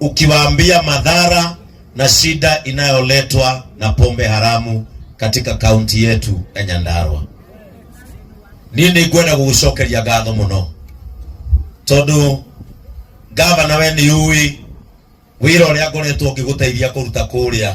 ukiwaambia madhara na shida inayoletwa na pombe haramu katika kaunti yetu ya Nyandarua. Niĩ nĩ ngwenda gũgũcokeria ngatho mũno tondũ gavana we nĩ ũĩ wĩra ũrĩa ngoretwo ngĩgũteithia kũruta kũrĩa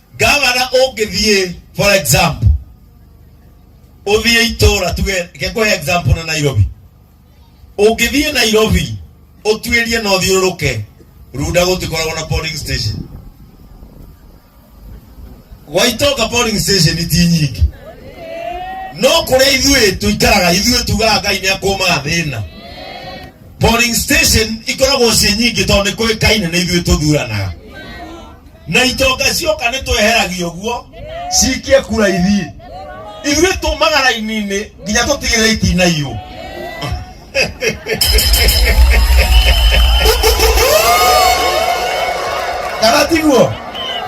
gavana ũngĩthiĩ for example ũthiĩ itũra tuge ngekũhe example na nairobi ũngĩthiĩ nairobi ũtuĩrie na ũthiũrũrũke runda gũtikoragwo na polling station gwaitoka polling station ti nyingĩ no kũrĩa ithuĩ tũikaraga ithuĩ tugaga ngai nĩ akũmaga thĩna polling station ikoragwo ciĩ nyingĩ tondũ nĩ kũĩkaine na ithuĩ tũthuranaga na itonga cioka nĩ tweheragia ũguo cikie kura ithiĩ ithuĩ tũmaga raini-inĩ nginya tũtigĩrĩre itinaiyũ kana tiguo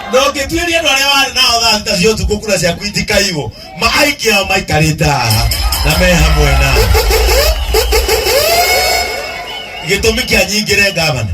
ndũngĩtuĩria andũ arĩa warĩ nao thaa thita cia ũtukũ kura ciaku itikaiywo maaingĩ ao maikarĩte haha na me hamwe na gĩtũmi kĩa nyingĩre ngavana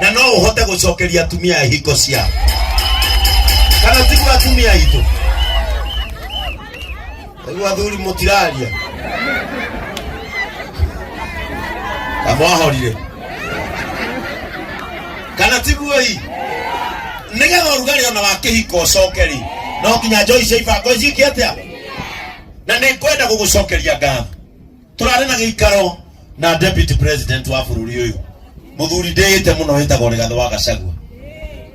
na no uhote gucokeria atumia hingo ciao kana tigu atumia itu riu athuri mutiraria kamwahorire kana tiguo hii nigetha urugari ona wa kihiko ucoke ri no nginya njoi cia ibango ciike atia na nä ngwenda gå gå cokeria ngatho turarä na gä ikaro na deputy president wa bũrũri ũyũ mũthuri ndĩĩte mũno wĩtagwo rĩgathĩ wa gacagua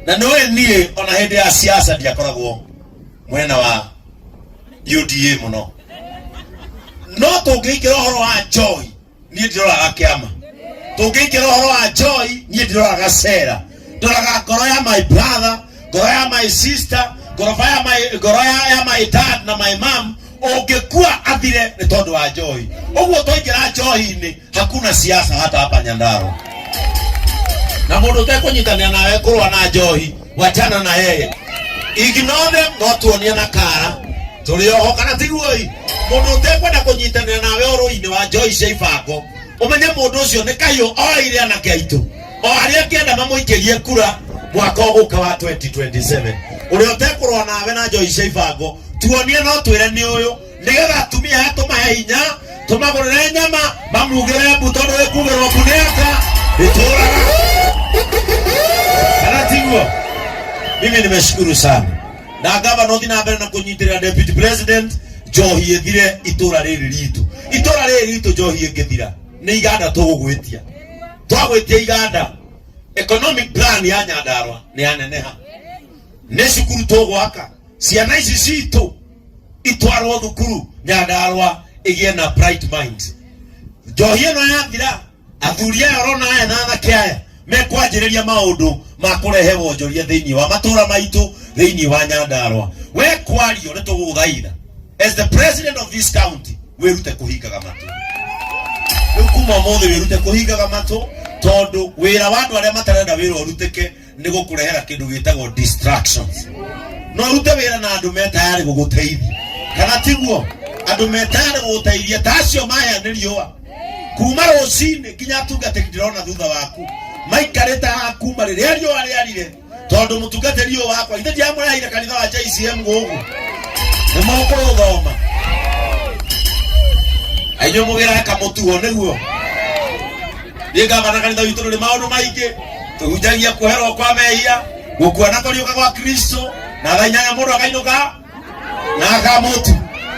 na nĩ ũĩ niĩ ona hĩndĩ ya siasa ndiakoragwo mwena wa UDA mũno no tũngĩikĩra ũhoro wa Joy niĩ ndiroraga kĩama tũngĩikĩra ũhoro wa Joy niĩ ndiroraga cera ndoraga ngoro ya my brother ngoro ya my sister ngoroba ya my ngoro ya, ya my dad na my mom ungekuwa athire ni tondu wa njohi uguo twaingira njohi-ini hakuna siasa hata hapa nyandaro na mundu utekunyitanira nawe kurwa na njohi wachana na yeye ignore them no tuonie na kara turi oho kana tiguoi mundu utekwenda kunyitanira nawe oro-ini wa njohi cia ibango umenye mundu ucio ni kahiu oire anake aitũ o arĩa angĩenda mamũikĩrie kura mwaka ũgũka wa 2027 ũrĩa ũtekũrũa nawe na njoi cia ibango tuonie no twĩre nĩ ũyũ nĩgetha atumia aya tũmahe hinya tũmagũrĩre nyama mamugĩre mbu tondũ wĩkugĩrwo mbu nĩ aka ndĩtũraga kana tiguo mimi nimeshukuru sana na gavana uthi na mbere na kunyitira deputy president njohi ithire itura riri ritu itura riri ritu njohi ingithira ni iganda tugugwitia twagwĩtia iganda economic plan ya nyandarwa nĩ yaneneha nĩ cukuru tũgwaka ciana ici citũ itwarwo thukuru nyandarwa ĩgĩe na bright minds njohi ĩno yathira athuri aya ũrona aya na anake aya mekwanjĩrĩria maũndũ ma kũrehe wonjoria thĩinĩ wa matũra maitũ thĩinĩ wa nyandarwa we kwario nĩ tũgũgũthaitha as the president of this county wĩrute kũhingaga matũ rĩu kuma ũmũthĩ wĩrute kũhingaga matũ tondũ wĩra wa andũ arĩa matarenda wĩra ũrutĩke nĩ gũkũrehera kĩndũ gĩtagwo distractions no ũrute wĩra na andũ me tayarĩ gũgũteithia kana tiguo andũ me tayarĩ gũgũteithia ta acio mahĩa nĩ riũa kuma rũcinĩ nginya atungatĩri ndĩrona thutha waku maikarĩte haha kuma rĩrĩa riũa rĩarire tondu mutungatiri uyu wakwa ithe ndiamũrehaire kanitha wa JCM gũkũ nĩ mũkũũthoma ainyuĩ mũgĩrahe kamũtuo nĩguo niĩ ngavana kanitha witũ ndũrĩ maũndũ maingĩ tũhunjagia kuoherwo kwa mehia gũkua na kũriũka gwa kristo na thaa inyanya mũndũ akainũka na akamutu